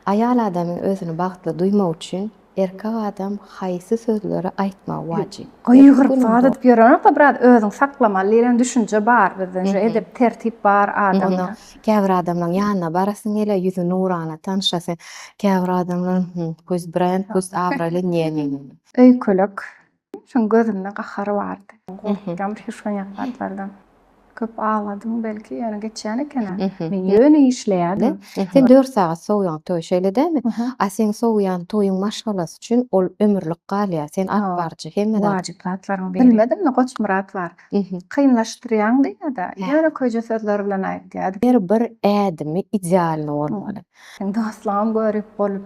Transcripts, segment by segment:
Aýal adamyň özüni bagtly duýmagy üçin erkek adam haýsy sözleri aýtmagy wajyp? Gygyryp waz edip ýörenok-da biraz özüňi saklamaly diýlen düşünje bar bizde nji edep tertip bar adamda. Käbir adamlaň ýanyna barasyň gele ýüzi nurana tanşasyň käbir adamlaň hümm pust brend pust abraýly njenjenjen. Öýkelek Şoň gözümde gahary bardy. Gorkýan şu şoňňak zatlardan. Köp agladym belki, ýöne geçýän eken-ä. Men ýöne işleýärdim. Sen dört sagat sowýaň toý, şeýle dälmi? A seň sowýan toýuň maşgalasy üçin ol ömürlik galýar. Sen atbarjy, hemme zat. Wajyp zatlaryň biri. Bilmedim-de Goçmyrat bar. Kynlaşdyrýaň diýýä-de, ýöne köje sözler bilen aýtýardy. Her bir ädimi idealny bolmaly. Seň dostlaryňam görip bolup.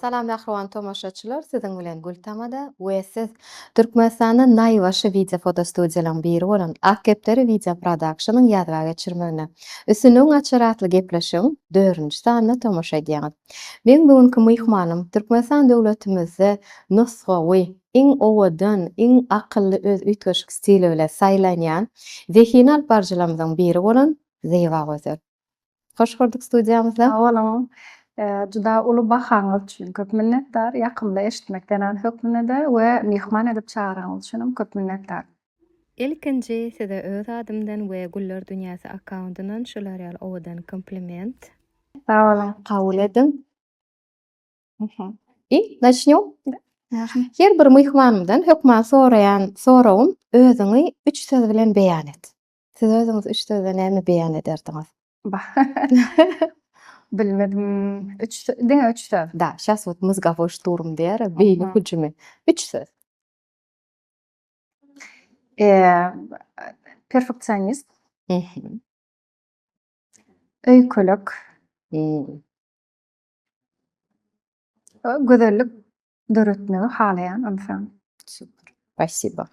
Salam mähriban tomaşaçylar siziň bilen Gültamada we siz Türkmenistanda naýbaşy wideo fotostudiýalaryň biri bolan Ak kepderi wideo prodakşonyň ýazga geçirmegine Üstünligiň açary atly gepleşigiň dördünji sanyna tomaşa edýäňiz. Meň bu günki myhmanym Türkmenistan döwletimizde nusgawy, iň owadan, iň akylly öz üýtgeşik stili bilen saýlanýan zehini alyp baryjylarymyzyň biri bolan Zebagözel. Hoş gördük studiýamyzda. Sag boluň. Juda uly bahaňyz üçin köp minnetdar. Ýakymly eşitmek zenan hökmünde-de we myhman edip çagranyňyz üçinem köp minnetdar. Ilkinji size öz adymdan we Güller dünýäsi akkauntyndan şular ýaly owadan kompliment. Sag boluň. Kabul ediň. I Начнёm. Her bir myhmanymdan hökman soraýan soragym, özüňi üç söz bilen beýan et. Siz özüňiz üç sözde näme beýan ederdiňiz? Bah. Bilmedim. Üç diňe üç söz. Da, şas wot mozgowoý şturm diýer, beýni hüjümi. Üç söz. Eee, perfeksionist. Mhm. Öýkelek. Gözellik Döretmegi halaýan ynsan. Super. Spasibo.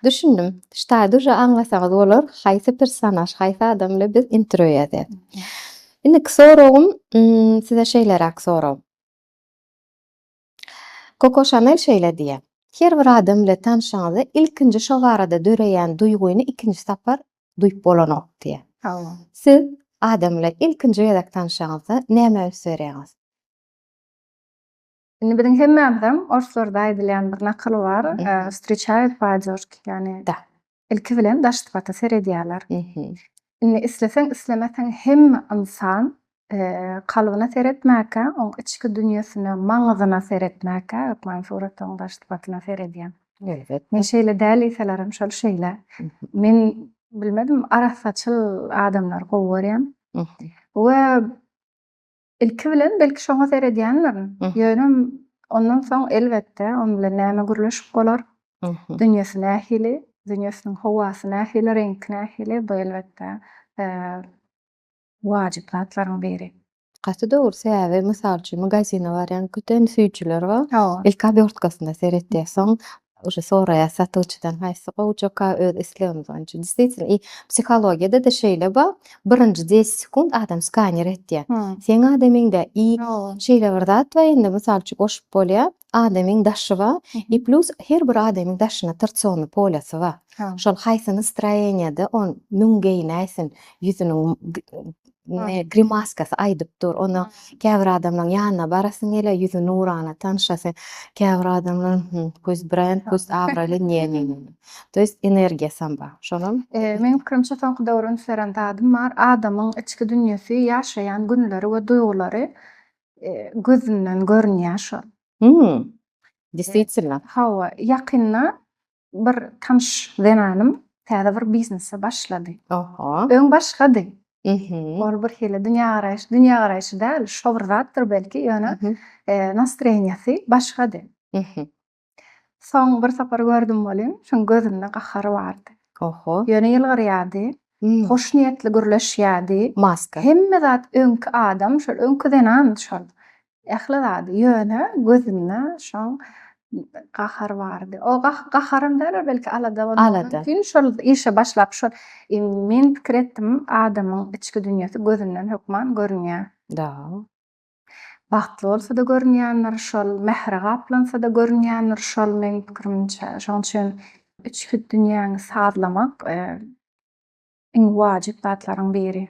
Düşündim. Ştaý duže aňlasaňyz bolar, haýsy personaž, haýsy adam bilen biz intro ýazýas. Indiki soragym size şeýleräk sorag. Koko Şanel şeýle diýýär, Her bir adam bilen tanşanyňyzda ilkinji şo barada döreýän duýgyny ikinji sapar duýup bolanok diýýär. Hawa. Siz adam bilen ilkinji gezek tanşanyňyzda näme üns berýäňiz? Indi biziň hemmämizem orslarda aýdylýan bir nakyl bar. Wstriçaýut e, padýorki, ýagny ilki bilen daş sypata seredýärler. Indi isleseň, islemeseň hemme ynsan kalbyna seretmäkä, oň içki dünýesine, maňyzyna seretmäkä, hökman suratagyň daş sypatyna seredýär. Men şeýle däl diýselerem şol şeýle. Men bilmedim arassaçyl adamlary gowy görýän we Ilki bilen belki şoňa seredýändirin. Ýöne ondan soň elbetde onuň bilen näme gürleşip bolar? Dünýesi nähili? Dünýesiniň howasy nähili, reňki nähili? Bu elbetde wajyp zatlaryň biri. Gaty dogry, sebäbi mysal üçin magazine barýan köten süýjüler bar. Ilki obýortkasynda seretýär, soň Uje soraýas satygyçydan haýsy gowjaka öz islegimiz boýunça dis diýsin i psihologiýadada şeýle bar birinji deset sekund adam skaner etýä seň adamyňda i şeýle bir zat bar indi mysal üçin goşup bolýa adamyň daşy bar i plýus her bir adamyň daşyna trtsony polýasy bar şol haýsy nastroýeniýada on müň geýnäýsin ýüzüniň grimaskasy aýdyp dur. Onda käbir adamlaryň ýanyna barasyň gelýär, ýüzi nurana, tanşasy. Käbir adamlar köz brend, köz abraýly njenjen. To ýest energiýasam bar. Şolam. Meniň pikirimçe soňky döwre üns beren zadym bar. Adamyň içki dünýesi, ýaşaýan günleri we duýgulary gözünden görünýär şol. Hum. Deswitselno. Hawa, ýakynda Bir tanyş zenanym täze bir biznese başlady. Oho. Öň başgady. Ol bir hili dünýägaraýyş, dünýägaraýşy däl, şo bir zatdyr belki, ýöne nastroýeniýasy başgady. Soň bir sapar gördüm welin, şoň gözünde gahary bardy. Oho. Ýöne ýylgyrýardy, hoşniýetli gürleşýärdi. Maska. Hemme zat öňki adam, şol öňki zenan şol. Ähli zady, ýöne gözünde şoň gahar bardy. O gaharam däldir, belki alada bolmagy mümkin. Şol işe başlap, şol men pikir etdim, adamyň içki dünýesi gözünden hökman görünýär. Dal. Bagtly bolsa-da görünýändir şol, mähre gaplansada görünýändir şol, meň pikirimçe. Şoň üçin içki dünýäňi sazlamak iň wajyp zatlaryň biri.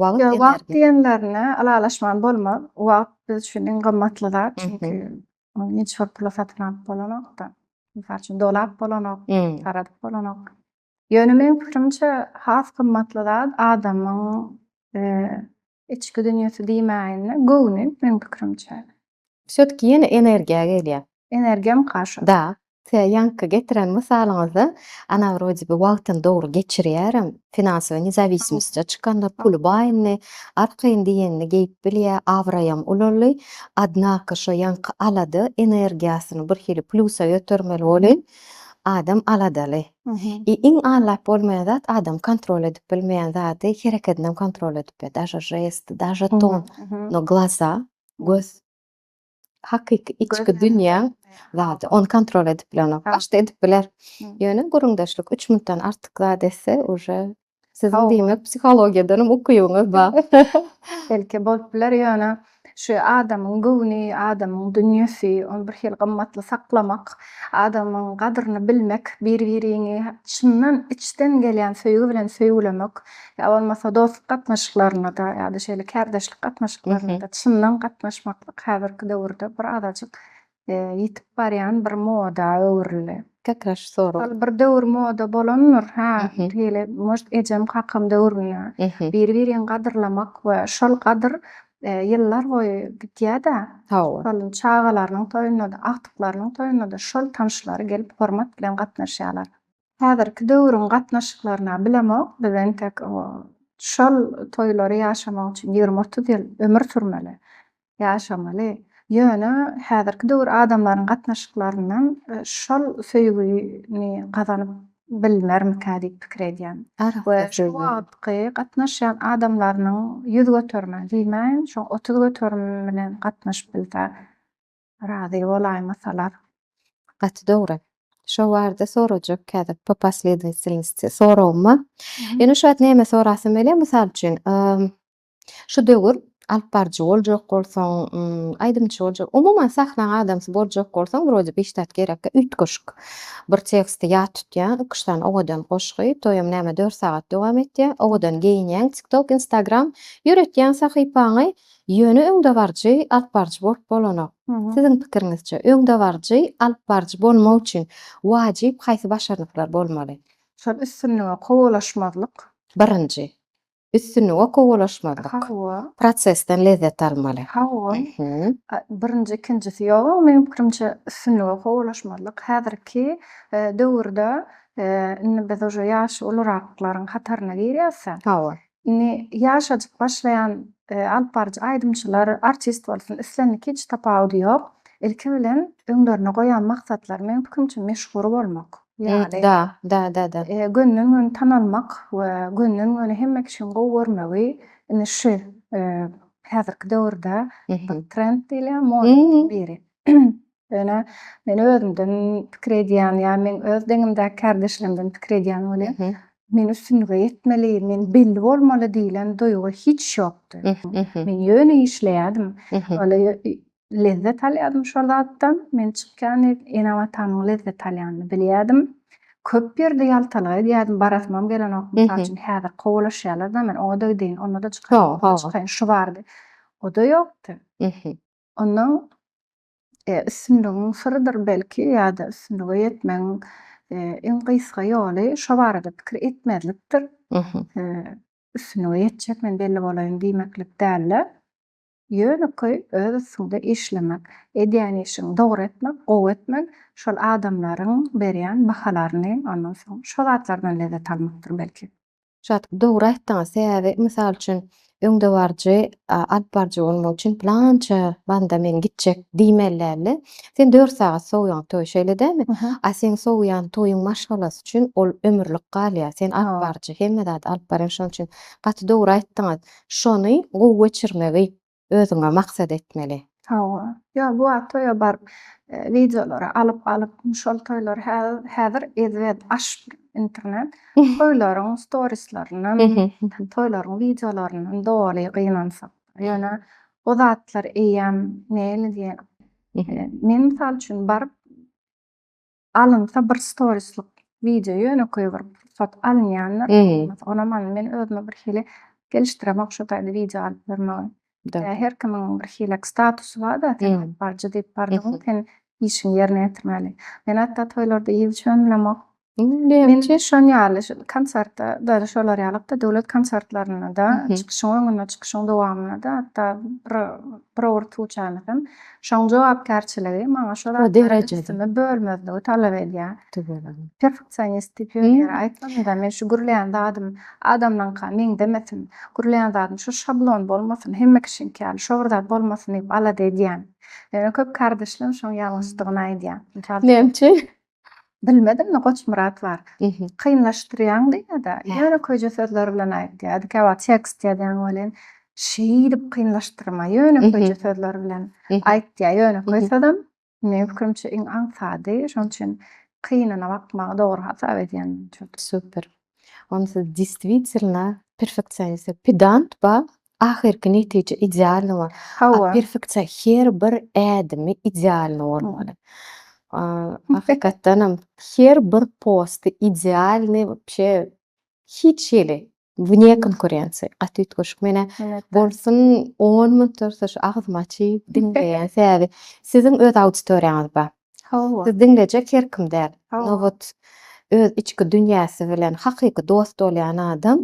Wagt Ýa wagt diýenlerine ylalaşman bolmaz. Wagt biz üçin iň gymmatly zat. Çünki ony hiç bir pula satyn alyp bolanok-da. Mysal üçin dolap bolanok, garadyp bolanok. Ýöne meniň pikirimçe has gymmatly zat adamyň içki dünýesi diýmäýin-de, göwni meniň pikirimçe. Wsötki ýene energiýa gelýä. Energiýam kaşa. Da, size ýaňky getiren mysalyňyzda ana wrodi bi wagtyny dogry geçirýärem, finansowy nezawismiste çykandyr, puly baý indi, arkaýyn diýenini geýip bilýä, abraýam ulaldy, odnako şo ýaňky alada energiýasyny birhili plýusa götermeli bolýn, adam aladaly. I iň aňlap bolmaýan zat adam kontrol edip bilmeýän zady herekedinem kontrol edip bilýä, daže žesti, daže ton, no glaza. Göz. Hakyky içki dünýäň zady. Ony kontrol edip bilenok. Başda edip biler. Ýöne gürrüňdeşlik üç minutdan artyk zat etse, uje siziň diýmek psihologiýadanam ukybyňyz bar. Belki bolup biler, ýöne şu adamyň göwni, adamyň dünýesi, ony bir hili gymmatly saklamak, adamyň gadryny bilmek, bir-biriňi çyndan içden gelýän söýgi bilen söýgülemek, ýa bolmasa dostluk gatnaşyklarynda-da ýa-da şeýle kärdeşlik gatnaşyklarynda-da çyndan gatnaşmaklyk häzirki döwürde bir azajyk ýitip barýan bir moda öwrüldi. Tekrar şu sorag. Ol bir döwür moda bolandyr, hä, şeýle может ejem-kakam döwründe biri-birini gadyrlamak we şol gadyr ýyllar boýy gidýär-de, şol çagalarynyň toýunda-da, agtyklarynyň toýunda-da şol tanşlary gelip hormat bilen gatnaşýarlar. Häzirki döwrüň gatnaşyklaryna bilemok, biz entek şol toýlary ýaşamak üçin ýigrimi-otuz ýyl ömür sürmeli, ýaşamaly. Ýöne häzirki döwür adamlaryň gatnaşyklaryndan şol söýgini gazanyp bilnermikä diýip pikir edýän. We şu wagtky gatnaşýan adamlarynyň ýüz göterime diýmäýin, şoň otuz göterim bilen gatnaşyp bilse, Razy bolaýmasalar gaty dogry. Şo barada sorajak kädip po posledovatelnosti soragyma. Ýöne şu wagt näme sorasym gelýär mysal üçin şu döwür alyp baryjy boljak bolsaň aýdymçy boljak umuman sahnaň adamsy boljak bolsaň wrode bi ştat gerekkä üýtgeşik bir teksti ýat tutýaň iki üç sany owadan goşgy toýam näme dört sagat dowam etýär owadan geýinýäň tiktok instagram ýöretýäň sahypaňy Ýöne öňdebaryjy alyp baryjy bolup bolanok. Siziň pikiriňizçe, öňdebaryjy alyp baryjy bolmak üçin wajyp haýsy başarnyklar bolmaly? Şol üstünlige kowalaşmazlyk. Birinji. Üstünlige kowalaşmazlyk. Hawa. Prosesden lezzet almaly. Hawa. Birinji, ikinjisi ýoga, meniň pikirimçe, üstünlige kowalaşmazlyk. Häzirki döwürde indi biz uje ýaşy uluraklylaryň hataryna girýäs-ä. Hawa. Indi ýaşajyk başlaýan alyp baryjy aýdymçylar, artist bolsun, islendik hiç tapawudy ýok. Ilki bilen öňlerine goýan maksatlary meň pikrimçe meşhur bolmak. Ýaly. Dä-dä-dä-dä. Gönden-göni tanalmak we gönden-göni hemme kişiň gowy görmegi indi şu häzirki döwürde bir trend diýilýär, moda biri. Ýöne men özümden pikir edýän ýa men öz deňimdäki kärdeşlerimden pikir edýän welin, men üstünlige ýetmeli, men belli bolmaly diýlen duýgy hiç ýokdy. Men ýöne işleýärdim. Lezzet alýardym şol zatdan. Men çykýan ene-watanyň lezzet alýanyny bilýärdim. Köp ýerde ýaltalyk edýärdim, barasymam gelenok. Mysal üçin, häzir kowalaşýarlar-da men oňa-da gideyim, onda-da çykaýyn, bunda-da çykaýyn, şu bardy. O-da ýokdy. Ondan E, üstünligiň syrydyr belki ýa-da üstünlige ýetmegiň e, iň gysga ýoly şo barada pikir etmezlikdir. E, üstünlige ýetjek men belli bolaýyn diýmeklik däl-de, ýönekeý öz üstüňde işlemek, edýän işiňi dogry etmek, gowy etmek, şol adamlaryň berýän bahalaryny, ondan soň şo zatlardan lezzet almakdyr belki. Şat, dogry aýtdyňyz, sebäbi mysal üçin öňdebaryjy, alyp baryjy bolmak üçin pylança banda men gitjek diýmeli däldi. Sen dört sagat sowýaň toý, şeýle dälmi? A seň sowýan toýuň maşgalasy üçin ol ömürlik galýar. Sen alyp baryjy, hemme zady alyp barýaň. Şonuň üçin gaty dogry aýtdyňyz. Şony gowy geçirmegi. özüňe maksat etmeli. Hawa. Ýok, bu wagt toýa baryp, wideolary alyp alyp, şol toýlar häzir ezbet aş internet. Toýlaryň storislerinem, toýlaryň wideolaryndan doly gynansak. Ýöne o zatlar eýýäm näle diýen. Men mysal üçin baryp Alynsa bir storislik wideo ýönekeý bir pursat alynýanda bolmasa onam alyn men özüme bir hili gelişdiremok şu taýda wideo alyp ýörmegi. Ýa her kimiň bir hilek statusy barda sen alyp baryjy diýip bardygyň sen işiňi ýerine ýetirmeli. Men hatda toýlarda ýygy içen bilemok. Men şon ýaly şu konsertde däl şolar ýalykda döwlet konsertlerinde-de çykyşyň öňünde çykyşyň dowamynda-da hatda bir bir owurtguçany hem Şoň jogapkärçiligi maňa şo zatlary üstüme bölmezligi talap edýär. Perfeksionist diýip ýöne ýere aýtmadym-da, men şu gürleýän zadym adamlaňka meňzemesin, gürleýän zadym şu şablon bolmasyn, hemme kişiniňki ýaly şo bir zat bolmasyn diýip alada edýän. Ýöne köp kardeşlerim şoň ýalňyşdygyny aýdýar. Näme üçin? Bilmedim-de Goçmyrat bar. Kynlaşdyrýaň diýýä-de, ýöne köje sözler bilen aýtýar. Dikäwagt tekst ýazýaň welin, şeýdip kynlaşdyrma, ýöne köje sözler bilen aýt diýýär. Ýönekeý sözem, meniň pikirimçe, iň aňsady. Şonuň üçin kynana bakmagy dogry hasap edýän. Super. Ony siz distwitilna perfeksionist we pedant ba ahyrky netije idealny bol. Hawa. Perfeksion her bir ädimi idealny bolmaly. Hakykatdanam her bir posty idealny wapşe hiç hili wne konkurensiýa gaty üýtgeşik menä bolsun on minut dursa şu agzyma çyýyp diňleýän sähedi siziň öz auditoriýaňyz bar. Hawa. Sizi diňlejek her kim däl. Nobat öz içki dünýäsi bilen hakyky dost bolýan adam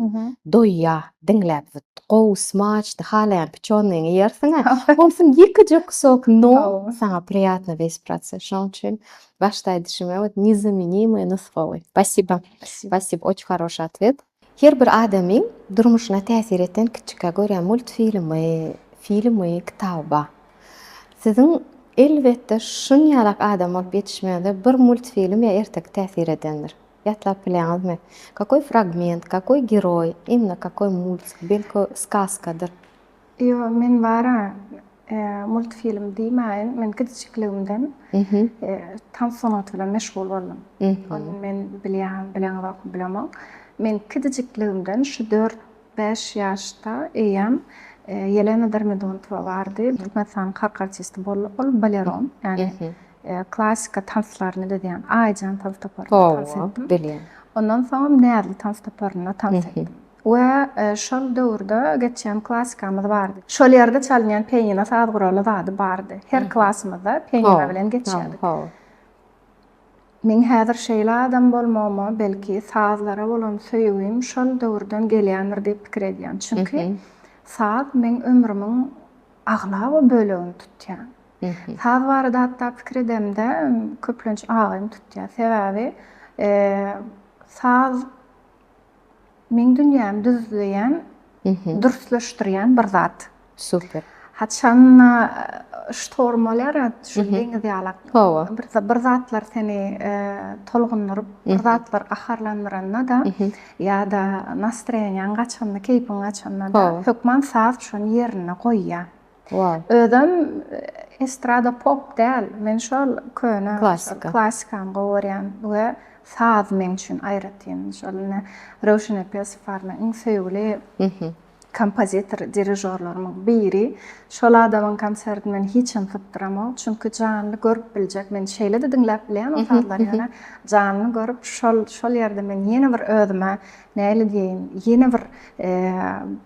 doýýar diňläp wut. Gowy smaçdy, halaýan piçonyňy ýersiň-ä. Bolsun ýekeje kusok non saňa priýatno wesprasy. Şoň üçin başda aýdyşym ýaly, nezamenimýe nusgawy. Spasiba. Spasiba, oç haroşy atwet. Her bir adamyň durmuşyna täsir eden kiçikä görä multfilmi, filmi, kitaby bar. Siziň elbetde şunýalak adam bolup ýetişmegiňize bir multfilm ýa erteki täsir edendir. Ýatlap bilýäňizmi? Kakoý fragment, kakoý geroý, imna kakoý multik, belki, skaskadyr. Ýo, men bar-a, multfilm diýmäýin, men kiçijikligimden tans sungaty bilen meşgul boldum. Ony men bilýän, bileňizokmy bilemok. Men kiçijikligimden şu dört, bäş ýaşda eýýäm Ýelena Dermidontowa bardy, Türkmenistanyň halk artisti boldy. Ol baleron, ýagny klassyka tanslaryny düzýän Aýjan tans toparynda tans etdim. Ondan soňam Näzli tans toparynda tans etdim. We şol döwürde geçýän klassikamyz bardy. Şol ýerde çalynýan pianino saz guraly zady bardy. Her klasymyzda pianino bilen geçýärdik. Meň häzir şeýle adam bolmagyma, belki, sazlara bolan söýgim şol döwürden gelýändir diýip pikir edýän. Çünki saz meň ömrümiň aglaba bölegini tutýar. Saz barada hatda pikir edemde, köplenç agym tutýar. Sebäbi saz Meň dünýämi düzleýän, dürsleşdirýän bir zat. Super. Haçan-da ştorm bolýar ýa, şu deňiz ýalak. Hawa. Bir zatlar seni tolgundyryp, bir zatlar gaharlandyranda-da ýa-da nastroýeniýaň gaçanda, keýpiň gaçanda-da, hökman saz şony ýerinde goýýar. Wow. Özem estrada pop däl. Men şol köne Klasika. klasikany gowy görýän we saz meň üçin aýratyn. Şol ine Röwşen Epesow bar meň iň söýgüli kompozitor, dirižorlarymyň biri. Şol adamyň konsertini men hiçem sypdyramok. Çünki janly görüp biljek. Men şeýle-de diňläp bilýän o sazlary ýöne janly görüp şol şol ýerde men ýene bir özüme näle diýeýin, ýene bir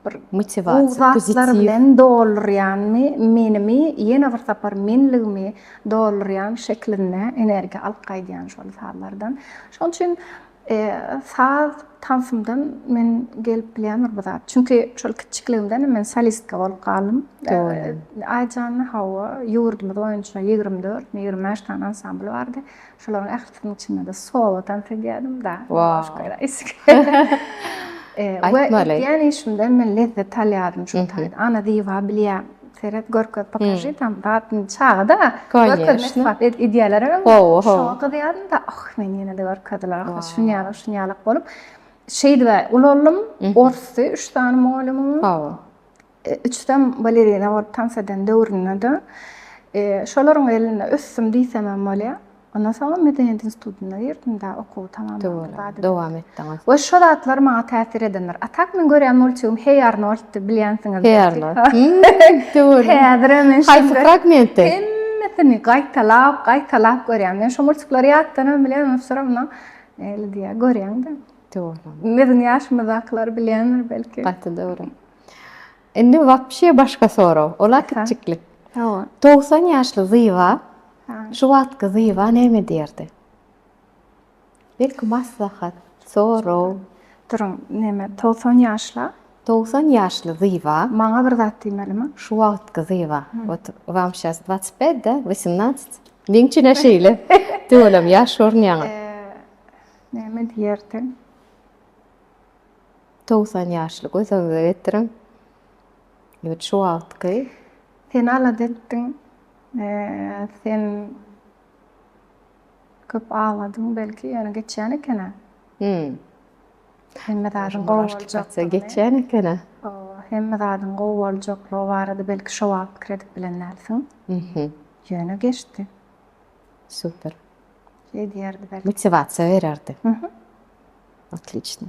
bir motiwasiýa, gowy zatlar bilen doldurýanmy, menimi ýene bir sapar menligimi doldurýan şeklinde energiýa alyp gaýdýan şol sazlardan. Şonuň üçin saz tansymdan men gelip bilýändir bu zat. Çünki şol kiçijikligimden men solistka bolup galdym. Aýjan, hawa, ýurdumyz boýunça ýigrimi dört, ýigrimi bäş sany ansambl bardy. Şolaryň ählisiniň içinde-de solo tans edýärdim-da. Aýtmaly. Ýani işimde men lezzet alýardym şu taýda. Ana Ziba bilýän, seret, görkez, pokaži tam zatny çaga-da. Görkez, isbat et, edýärler hem. Şoňa gyzýardym-da, oh, men ýene-de görkezdiler, oh, şunýalak, şunýalak bolup. Şeýdibä ulalym, orsy üç sany mugallymyň. Üçsem balerina bolup tans eden döwründe-de şolaryň elinde ösdüm diýsemem bolýar. Ondan soňam medeniýet institutyna girdim-de, okuwy tamamlamam bady. Dowam etdiňiz. We şo zatlar maňa täsir edendir. A tak men görýän multigim Heý Arnolddy, bilýänsiňiz. Heý Arnold. Häzirem men şeýle. Haýsy fragmenti? Hemmesini gaýtalap, gaýtalap görýän. Men şo multiklary ýatdanam bilýän, ony soramda näle diýýär, görýäň-de. Dogry. Biziň ýaşymyzdakylary bilýändir belki. Gaty dogry. Indi wapşe başga sorag. Ola kiçiklik. Hawa. 90 ýaşly Zyba şu wagtky Zyba näme diýerdi? Belki maslahat, sorag. Duruň, näme, 90 ýaşla? 90 ýaşly Zyba. Maňa bir zat diýmelimi? Şu wagtky Zyba. Ot, wam şas 25 da, 18. Meň üçin şeýle. Tüwelem ýaş görünýäňiz. Näme diýerdi? Togsan ýaşly göziňize getiriň. Ýurt şu wagtky. Seni alada etdiň. Sen köp agladyň belki, ýöne geçýän eken-ä. Hümm. Hemme zadyň gowy boljakdygyny. Geçýän eken-ä. Hawa, hemme zadyň gowy boljaklygy barada belki şo wagt pikir edip bilen dälsiň. Hümm. Ýöne geçdi. Super. Şeý diýerdi belki. Motiwasiýa bererdi. Hümm. Otliçno.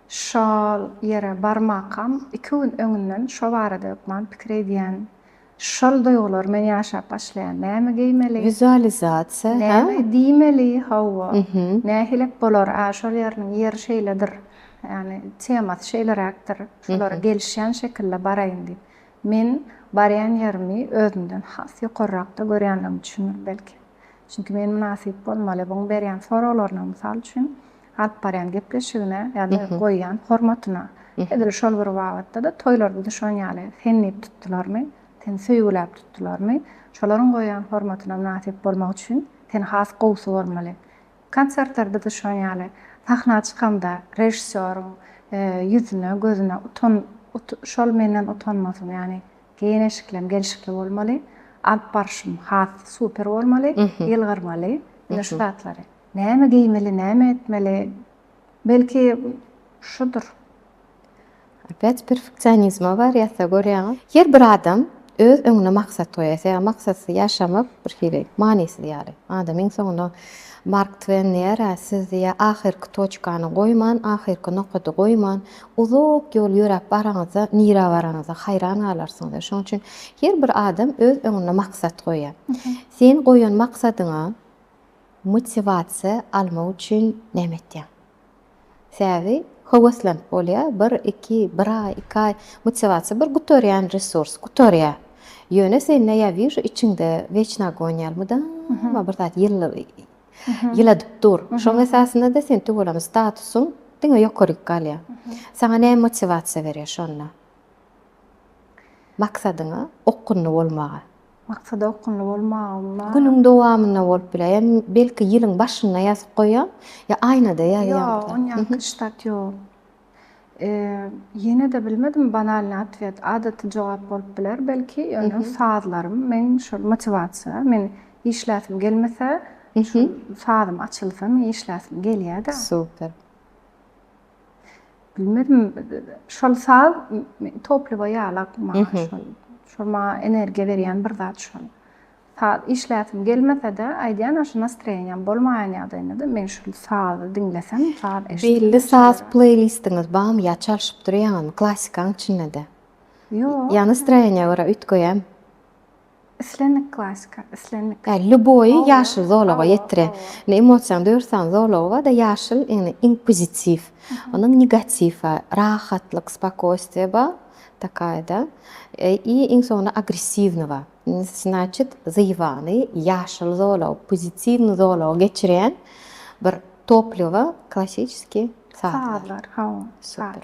Şol ýere barmakam iki gün öňünden şo barada hökman pikir edýän. Şol duýgulary men ýaşap başlaýan. Näme geýmeli? Wizualizasiýa, hä? Näme diýmeli? Hawa. Nähilek bolar? Ä, şol ýeriniň ýeri şeýledir. Ýagny temasy şeýleräkdir. Şolara gelişýän şekilde baraýyn diýip. Men barýan ýerimi özümden has ýokarrakda görýänligim üçindir belki. Çünki men mynasyp bolmaly. Buň berýän soraglaryna, mysal üçin, alyp barýan gepleşigine ýa-da goýýan hormatyna, edil şol bir babatda-da toýlarda-da şoň ýaly, sen diýip tutdularmy, seni söýgüläp tutdularmy, şolaryň goýýan hormatyna mynasyp bolmak üçin sen has gowusy bolmaly. Konsertlerde-de şoň ýaly, sahna çykamda režissýoryň ýüzüne, gözüne utan, şol menden utanmasyn, ýagny geýen-eşiklem gelşikli bolmaly, alyp barşym has super bolmaly, ýylgyrmaly, ine şu zatlary. Näme geýmeli, näme etmeli? Belki, şudur. Opýat perfeksionizme barýarsa görýäňiz. Her bir adam öz öňüne maksat goýýar. Ýa maksatsyz ýaşamak bir hili manysyz ýaly. Adam iň soňunda Mark Twen diýýär, siz diýýär, ahyrky toçkany goýman, ahyrky nokady goýman, uzak ýol ýöräp baraňyzda, nirä baranyňyza haýran galarsyňyz diýýär. Şonuň üçin her bir adam öz öňüne maksat goýýar. Sen goýan maksadyňa Motiwasiýa almak üçin näme etýäň? Sebäbi höweslent bolýar, bir, iki, bir aý, iki aý, motiwasiýa bir gutarýan resurs, gutarýar. Ýöne sende ýa wiža içiňde wejna agon ýaly mydama bir zat ýyladyp dur. Şoň esasynda-da sen tüweleme statusyň diňe ýokaryk galýar. Saňa näme motiwasiýa berýär şonda? Maksadyňa okgunly bolmaga. Maksada okgunly bolmagym bar. Günüň dowamynda bolup biler. Ýa belki ýylyň başynda ýazyp goýaň. Ýa aýnada ýazyň. Ýok, onýanky ştat ýok. Ýene-de bilmedim, banalnyý otwet, adaty jogap bolup biler belki, ýöne sazlarym meň şol motiwasiýa. Men işläsim gelmese, şol sazym açylsa, meň işläsim gelýär-de. Super. Bilmedim, şol saz topliwa ýalak maňa şol. Şol maňa energiýa berýän bir zat şol. Saz işläsim gelmese-de, aýdýan aşa nastroýeniýam bolmaýan ýagdaýynda-da men şol sazy diňlesem, saz eşitsem. Belli saz pleýlistiňiz barmy ýa çalşyp durýaňyzmy klassikanyň içinde-de? Ýok. Ýa nastroýeniýa görä üýtgeýämi? Islendik klasika, islendik. Hä, lýuboýy ýaşyl zolaga ýetire. Indi emosiýaň dört sany zolagy bar-da, ýaşyl, indi inkwizitiw, ondan negatiw bar, rahatlyk, spokojstwie bar, takaýa-da, i iň soňunda agressiwnyý bar. Indi, znaçit, zyýbany ýaşyl zolagy, pozitiwnyý zolaga geçirýän bir toplýowa, klassyçeskiý sazlar. Sazlar, hawa. Super.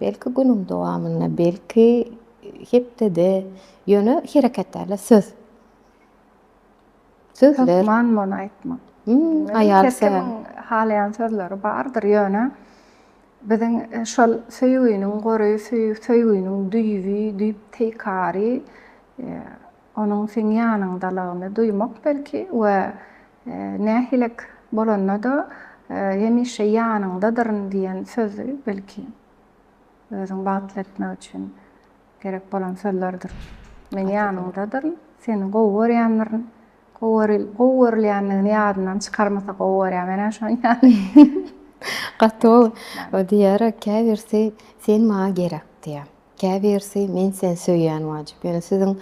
Belki günüň dowamynda, belki hepdede, ýöne hereket däl-de, söz. Sözler. Hökman muny aýtmak. Aýal Her kimiň halaýan sözleri bardyr, ýöne biziň şol söýginiň gory, söýginiň düýbi, düýp teýkary Onuň seň ýanyňdalygyny duýmak belki we nähilek bolanda-da hemişe ýanyňdadyryn diýen sözi belki özüňi bagtly etmek üçin gerek bolan sözlerdir. Men ýanyňdadyryn, seni gowy görýändirin, gowy görülýändigini ýadyndan çykarmasa gowy görýär. Menä şonuň ýaly. Gaty gowy. Diýýärä käbirsi sen maňa gerek diýýär. Käbirisi men seni söýýän wajyp ýöne siziň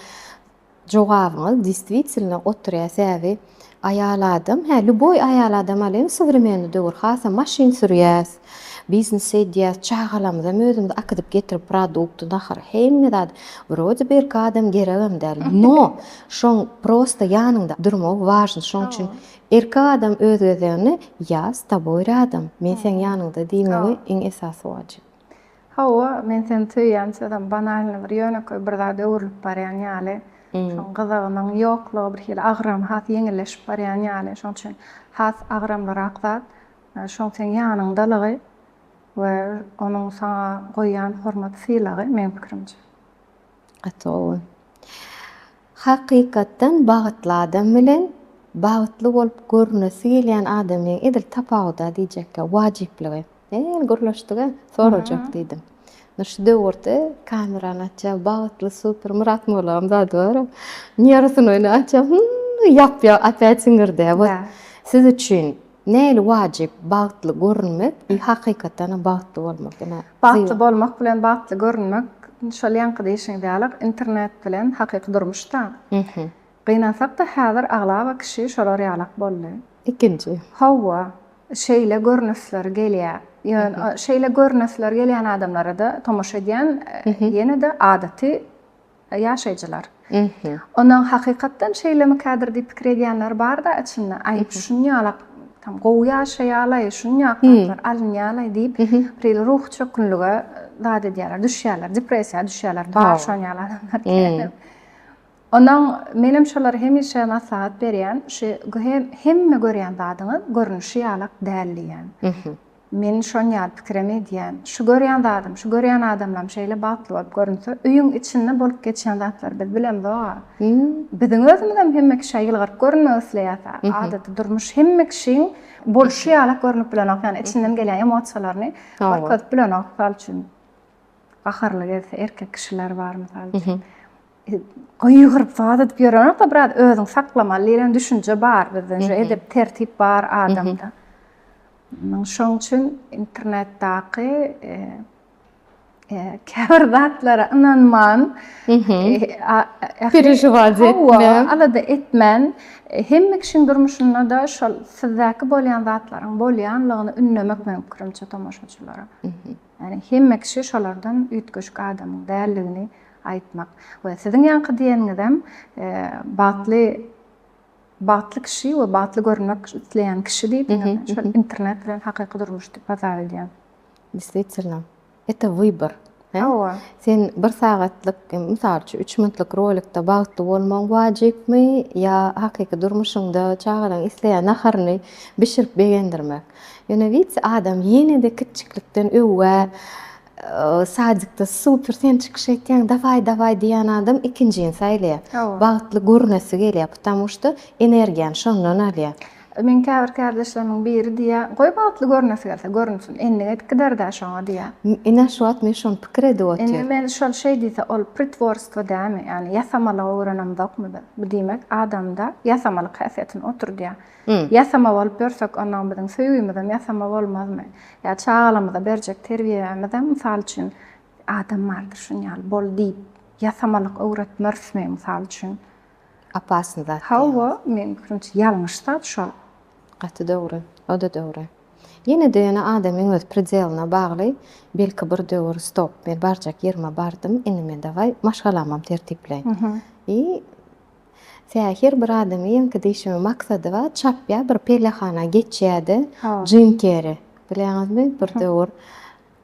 jogabyňyz distwitilno oturýa säbi aýal adam hä lýuboý aýal adam alýan sowremenni döwür hasam maşyn sürýäs biznes edýäs çagalamyzam özümiz akydyp getirip produkty naharyň hemme zady wrode bi erkek adam geregem däl no şoň prosta ýanyňda durmagy wažny şoň üçin erkek adam öz gezeginde ýa s toboý rýadom men seň ýanyňda diýmegi iň esasy wajyp. Hawa, men seni söýýän sözem banalny bir ýönekeý bir zada öwrülip barýan ýaly. Şoň gyzygynyň ýoklugy bir hili agram has ýeňilleşip barýan ýaly. Şoň üçin has agramlyrak zat şoň seň ýanyňdalygy we onuň saňa goýýan hormat sylagy meň pikirimçe. Gaty gowy. Hakykatdan bagtly adam bilen bagtly bolup görünesi gelýän adamyň edil tapawuda diýjekkä wajyplygy. Men ýene gürleşdige sorajak diýdim. Indi şu döwürde kamerany açýar bagtly super Myrat Mollam zady bar. Nýarysyn oýny açýar hyyy ýap ýap opýat siňirdä. Siz üçin Nähili wajyp bagtly görünmek i hakykatdanam bagtly bolmak ine. Bagtly bolmak bilen bagtly görünmek şol ýaňky diýişiňiz ýaly internet bilen hakyky durmuş da. Gynansakda häzir aglaba kişi şolar ýalak boldy. Ikinji. Howwa şeýle görnüsler gelýä. Ýön şeýle görnüsler gelýän adamlarada tomaşa edýän ýene-de adaty Ýaşaýjylar. Ony hakykatdan şeýlemikädir diýip pikir edýänler bar-da içinde, aý, şunýalak tam gowy ýaşaýalaý, şunýak zatlar alynýalaý diýip, bir ruhy çökgünlige zat edýärler, düşýärler, depressiýa düşýärler, bar şonýaly adamlar kän. Onuň, menem şolara hemişe maslahat berýän, şu hemme görýän zadyňyz görnüşi ýalak däl diýýän. Men şonýar pikirem edýän. Şu görýän zadym, şu görýän adamlam şeýle bagtly bolup görünse, öýüň içinde bolup geçýän zatlary biz bilemzog-a. Biziň özümizem hemme kişä ýylgyryp görünmek isleýäs-ä. Adaty durmuş hemme kişiň bolşy ýalak görnüp bilenok, ýagny içinden gelýän emosiýalaryny görkezip bilenok. Mysal üçin, gaharly gelse erkek kişiler bar, mysal üçin, gygyryp zat edip ýörenok-da, biraz özüňi saklamaly diýlen düşünje bar bizde. Edep-tertip bar adamda. Şoň üçin internetdaky käbir zatlara ynanman, perežiwat etmän, alada etmän, hemme kişiň durmuşynda-da şol sizdäki bolýan zatlaryň bolýanlygyny ündemek meniň pikirimçe tomaşaçylara. Ýagny hemme kişi şolardan üýtgeşik adamyň däldigini aýtmak we siziň ýaňky diýeniňizem bagtly Bagtly kişi we bagtly görünmek isleýän kişi diýip şol internet bilen hakyky durmuş diýip hasap edýän. Desvitselna. Ete wybor. Hawa. Sen bir sagatlyk, mysal üçin, üç minutlyk rolikde bagtly bolmagyň wajypmy ýa hakyky durmuşyňda çagalaryň isleýän naharyny bişirip begendirmek? Ýöne widse adam ýene-de kiçjiklikden öwgä Sadikde super sen çykyş etýäň daway daway diýýän adam ikinjini saýlaýar. Bagtly görünesi gelýär потому что energiýany şondan alýar. Meň käbir kärdeşlerimiň biri diýýär, goý bagtly görünesi gelse görünsin, endige edip gider-dä şoňa diýýär. Ine şu wagt men şony pikir edip otyryn. Indi men şol şeý diýse ol pritworstwo dälmi, ýagny ýasamalygy öwrenenokmy biz. Bu diýmek adamda ýasamalyk häsiýetini oturdýar. Ýasama bolup ýörsek, onda biziň söýgimizem ýasama bolmazmy? Ýa çagalarymyza berjek terbiýämizem, mysal üçin, Adam bardyr şuny ýaly, bol diýip, ýasamalyk öwretmerismi, mysal üçin? Opasny zat. Hawa, meniň pikirimçe, ýalňyş zat şol. Gaty dogry. O-da dogry. Ýene-de ýöne adamyň öz predeline bagly. Belki bir döwür, stop, men barjak ýerime bardym, indi men daway maşgalamam tertipleýin. I Sähir bir adamy ýeňki diýşimi maksady bar çapýa bir pellehana geçýädi jim keri bilýäňizmi bir döwür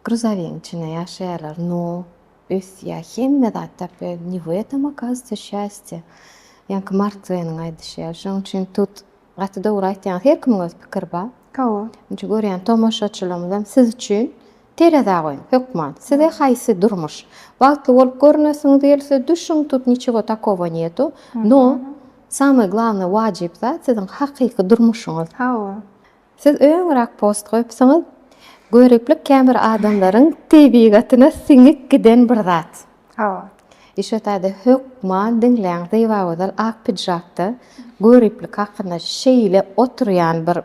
gruzowiň içinde ýaşaýarlar no ösýä hemme zat tapýa ne w etem okazujca şýastýe ýaňky mark tweniň aýdyşy ýaly şoň üçin tut Gaty dogry aýtýaňyz her kimiň öz pikiri bar. Hawa. Nji görýän tomaşaçylarymyzam siz üçin terezä goýuň hökman size haýsy durmuş bagtly bolup görünesiňiz gelse düşüň tut niçego takovo netu no samay glavnay wajyp zat siziň hakyky durmuşyňyz Hawa. Siz öňürak post goýupsyňyz göriplik käbir adamlaryň tebigatyna siňip giden bir zat. Hawa. Işe täze hökman diňläň zebagözel ak pidžakda göriplik hakynda şeýle oturýan bir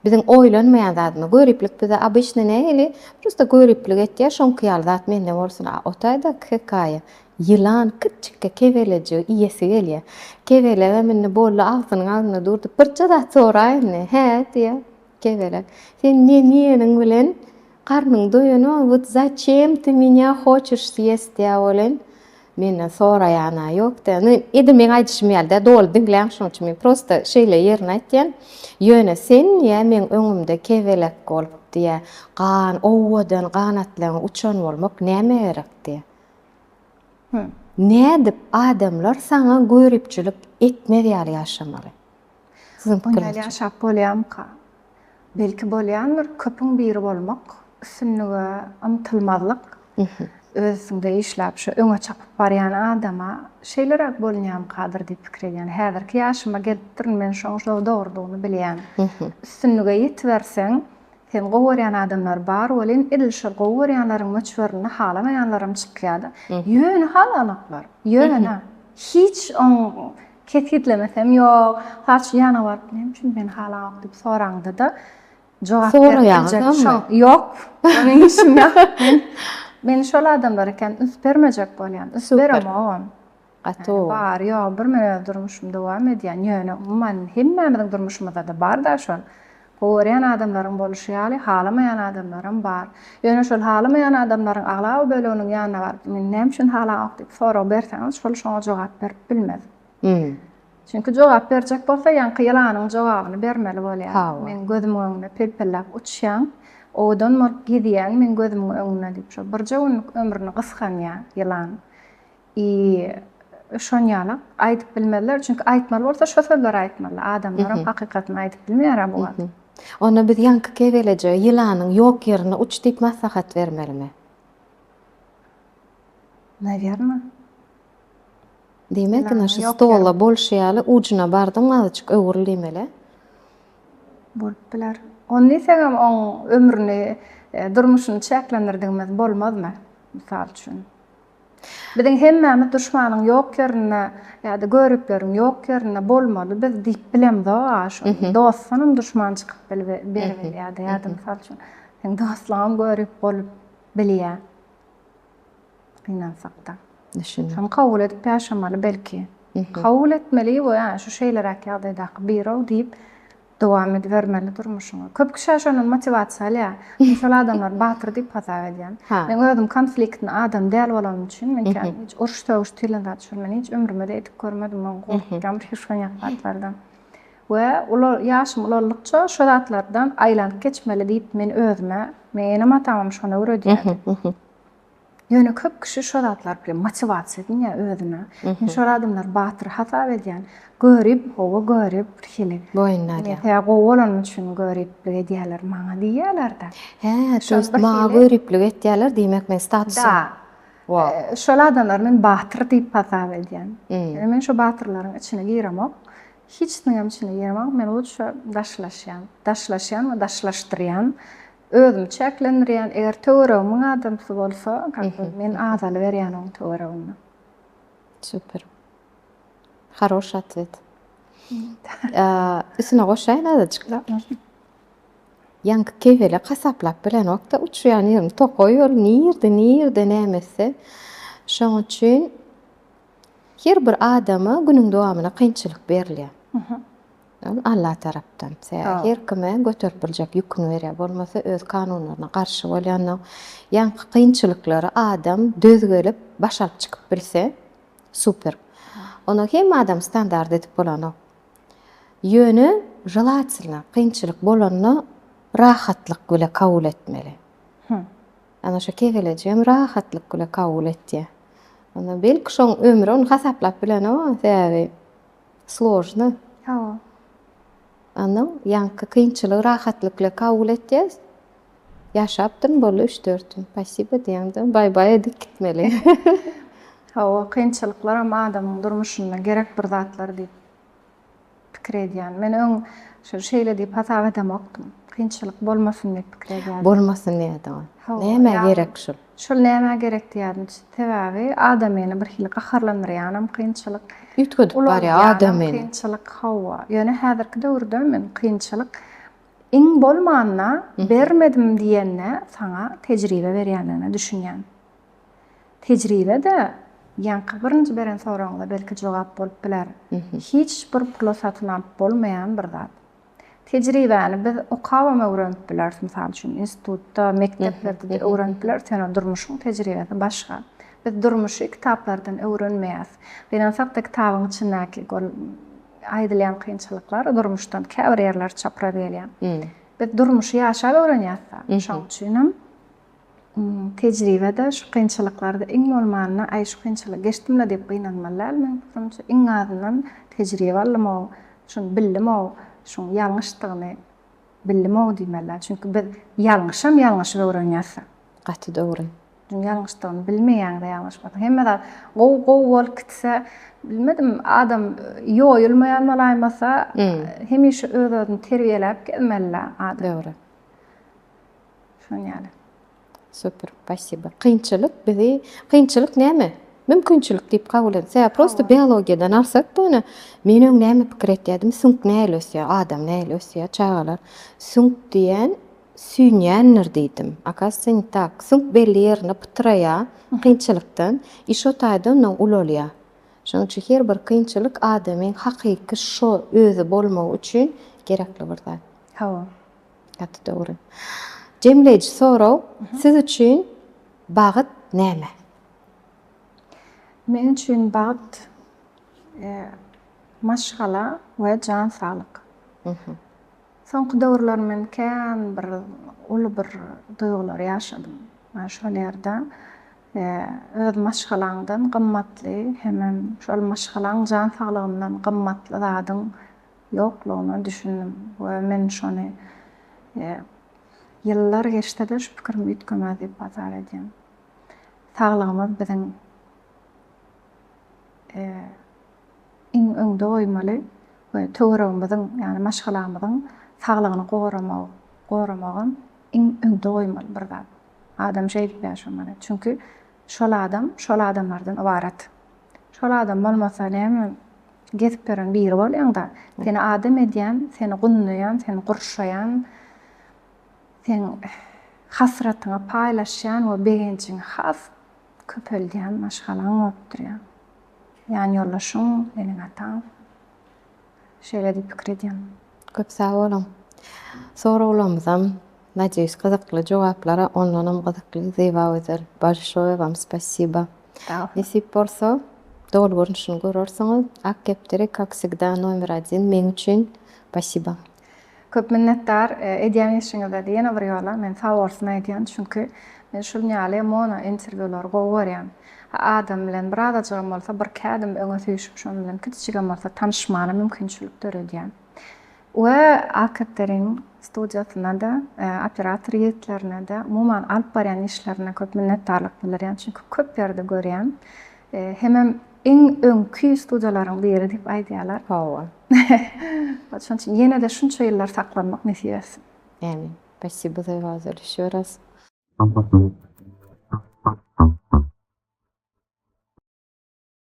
biziň oýlanmaýan zadymyz göriplik bize obyçny nähili prosta göriplik etýär şoňky ýaly zat mende bolsun a otaýda hekaýa ýylan kiçjikkä kebelejigi iýesi gelýär kebelegem indi boldy agzynyň agzynda durdy birje zat soraýynmy hä diýýär Kebelek. Sen ne diýeniň bilen garnyň doýana wot zachem ty menya hoçeş sýest ýa bolen menden soraýana ýok da indi edil meň aýdyşym ýaly däl doly diňläň şoň üçin men prosta şeýle ýerini aýtýan ýöne sen ýa meň öňümde kebelek bolup diýä gan owadan ganatlaň uçan bolmak näme gerek diýä nädip adamlar saňa göripçilik etmez ýaly ýaşamaly. Siziň pikiriňizçe? Oýnaýly ýaşap bolýarmyka? Belki bolýandyr. Köpüň biri bolmak, üstünlige ymtylmazlyk, öz üstüňde işläp, şo öňe çapyp barýan adama şeýleräk bolunýarmykadyr diýip pikir edýän. Häzirki ýaşyma gelipdirin, men şoň şo dogrudygyny bilýän. Üstünlige ýetiberseň, seni gowy görýän adamlar bar welin, edil şol gowy görýänleriň möçberinde halamaýanlaram çykýar-da. Ýöne halanoklar, ýöne. Hiç oň. Kesgitlemesem ýok. Saç ýana baryp näme üçin meni halanok diýip soraňda-da jogap berip biljek. Soraýaňyzamy? Ýok. Meniň işim ýok. Men men şol adamlar eken üns bermejek bolýan. Üns beremogam. Gaty gowy. Bary ýogy bir men öz durmuşymy dowam edýän. Ýöne umuman hemmämiziň durmuşymyzda-da bar-da şol. Gowy görýän adamlaryň boluşy ýaly, halamaýan adamlaram bar. Ýöne şol halamaýan adamlaryň aglaba böleginiň ýanyna baryp, meni näme üçin halaňok diýip sorag berseňiz, şol şoňa jogap berip bilmez. Çünki jogap berjek bolsa, ýaňky ýylanyň jogabyny bermeli bolýar. Meň gözümiň öňünde pelpelläp uçýaň, owadan bolup gezýäň meň gözümiň öňünde diýip, şol birje günlük ömrüni gysganýar ýylan. I şon ýaly aýdyp bilmezler çünki aýtmaly bolsa şo sözleri aýtmaly adamlaram hakykatyny aýdyp bilmeýärä bu wagt. Onda biz ýaňky kebelejige ýylanyň ýok ýerine uç diýip maslahat bermelimi? Nawerno. Diýmek indi şu stola bolşy ýaly ujuna bardyň azajyk öwrül diýmeli. Bolup biler. Ony diýsegem oň ömrüni durmuşyny çäklendirdigimiz bolmazmy mysal üçin. Biziň hemmämiz duşmanyň ýok ýerinde ýa-da görepleriň ýok ýerinde bolmaly biz diýip bilemzog-a şony. Dostdanam duşman çykyp beriberýär-de ýa-da mysal üçin seň dostlugyňam görüp bolup bilýär. Gynansak-da. Düşündim. Şony kabul edip ýaşamaly belki. Kabul etmeli we şu şeýleräk ýagdaýdaky biri-ow diýip Dowam edibermeli durmuşyňy. Köp kişä şondan motiwasiýa alýa. Men şol adamlary batyr diýip hasap edýän. Men özüm konfliktni adam däl bolanym üçin, men kän hiç uruş sögüş diýlen zat şol men hiç ömrümde edip görmedim. Men gorkýan bir hüşgynýak zatlardan. We ular ýaşym ulalykça şo zatlardan aýlanyp geçmeli diýip men özüme, meň enem atamam şony öwredýärdi. Ýöne köp kişi şo zatlar bilen motiwasiýa edin ýa özüne. Men şol adamlary batyr hasap edýän. Görip, howa görip bir hili. Boýnuna alýan. Ýa gowy bolany üçin göriplik edýäler maňa diýýäler-de. Hä, toýst maňa göriplik etýäler diýmek men statusym. Da. Wah. Şol adamlary men batyr diýip hasap edýän. Ýöne men şo batyrlaryň içine giremok. Hiç niňem içine giremok. Men lutşa daşlaşýan. Daşlaşýan we daşlaşdyrýan. özümi çäklendirýän, eger töweregimiň adamsy bolsa, kakam men azalyberýän oň töwereginde. Super. Haroş atwet. Üstüne goşaýyn azajyk. Ýaňky kebelek hasaplap bilen wagtda uçýan ýerim tokaý ýol nirde nirde näme etse şoň üçin her bir adama günüň dowamyna kynçylyk berilýär. Ol Alla tarapdan her kime göterip biljek ýüküni berýär. Bolmasa öz kanunlaryna garşy bolýanda ýaňky kynçylyklary adam döz gelip baş alyp çykyp bilse super. Ony hemme adam standart edip bolanok. Ýöne želatelno kynçylyk bolanda rahatlyk bile kabul etmeli. Ana şu kegeleji hem rahatlyk bile kabul etýär. Onda belki şoň ömri ony hasaplap bilenok sebäbi Složny. Hawa. Anam, ýaňky kynçylygy rahatlykla kabul etýäs. Ýaşapdyryn boldy üç-dört gün. Pasiba diýemde, baý-baý edip gitmeli. Hawa, kynçylyklaram adamyň durmuşynda gerek bir zatlar diýip pikir edýän. Men öň şol şeýle diýip hasap edemokdym. Kynçylyk bolmasyn diýip pikir edýärdim. Bolmasyn diýýärdiňiz. Hawa. Nämä gerek şol? Şol nämä gerekdi ýadymç. Sebäbi adam meni bir hili gaharlandyrýanam kynçylyk. Üýtgedip barýar adam meni. Kynçylyk hawa. Ýöne häzirki döwürde men kynçylyk iň bolmanda bermedim diýende saňa tejribe berýändigine düşünýän. Tejribe-de ýaňky birinji beren soragyňyza belki jogap bolup biler. Hiç bir pula satyn alyp bolmaýan bir zat. Tejribäni biz okabam öwrenip bileris, mysal üçin, institutda, mekdeplerde-de öwrenip bileris, ýöne durmuşyň tejribesi başga. Biz durmuşy kitaplardan öwrenmeýäs. Gynansak-da, kitabyň içindäki ol aýdylýan kynçylyklar durmuşdan käbir ýerleri çapraz gelýär. Biz durmuşy ýaşap öwrenýäs-de. Şonuň üçinem Tejribede şu kynçylyklarda iň bolmanda aý şu kynçylygy geçdim-le diýip gynanmaly däl meň pikirimçe. Iň azyndan tejribe aldym-ow, şuny bildim-ow, şuň ýalňyşdygyny bildim-ow diýmeli däl. Çünki biz ýalňyşam ýalňyşyp öwrenýäs-de. Gaty dogry. Çünki ýalňyşdygyny bilmeýäň-de ýalňyşmasaň. Hemme zat gowy gowy bolup gitse, bilmedim, adam ýoýulmaýan bolaýmasa, hemişe öz-özüni terbiýeläp gezmeli-le adam. Dogry. Şun ýaly. Super, spasiba. Kynçylyk bizi, kynçylyk näme? Mümkinçilik diýip kabul edin. Sebäbi prosta biologiýadan alsak bu ine, men öň näme pikir etýärdim, süňk nähili ösýär, adam nähili ösýär, çagalar, süňk diýen süýnýändir diýdim. Akasiýa ne tak. Süňk belli ýerinde pytraýar kynçylykdan i şo taýda ondan ulalýar. Şonuň üçin her bir kynçylyk adamyň hakyky şo özi bolmagy üçin gerekli bir zat. Hawa. Gaty dogry. Jemleýji sorag, siz üçin bagt näme? Men üçin bagt maşgala we jan saglyk. Soňky döwürler men kän bir uly bir duýgulary ýaşadym. Şol ýerde öz maşgalaňdan gymmatly hemem şol maşgalaň jan saglygyndan gymmatly zadyň ýoklugyna düşündim we men şony ýyllar geçse-de şu pikirim üýtgemez diýip hasap edýän. Saglygymyz biziň iň öňde goýmaly we töweregimiziň, ýagny maşgalamyzyň saglygyny goramagy, goramagam iň öňde goýmaly bir zat. Adam şeýdip ýaşamaly. Çünki şol adam şol adamlardan ybarat. Şol adam bolmasa näme gezipberin biri bolýaňda seni adam edýän seni gundaýan seni gurşaýan seň hasratyňy paýlaşýan we begenjiňi has köpeldýän maşgalaň bolup durýar ýanýoldaşyň seniň ataň. Şeýle diýip pikir edýän. Köp sag boluň. Soraglarymyzam nadeýus gyzykly jogaplara ondanam gyzykly Zyba Gözel bolşoýe wam spasiba. Nesip bolsa doly görnüşini görersiňiz. Ak kepderi kak wsegda nomer odin meň üçin. Pasiba. Köp minnetdar edýän işiňize de ýene bir ýola men sag bolsun aýdýan çünki men şuln ýaly mono interwýulary gowy görýän ha adam bilen bir azajygam bolsa bir iki ädim öňe süýşüp şon bilen kiçijigem bolsa tanyşmana mümkinçilik döredýän we alkatterin studiýasyna da operator ýigitlerine de umuman alyp barýan işlerine köp minnetdarlyk bildirýän çünki köp ýerde görýän hemem iň öňki studiýalaryň biri diýip aýdýalar. Sag bol. Şonuň üçin ýene-de şunça ýyllar saklanmak nesip etsin. Ämin. Spasibo za was, ýşo raz.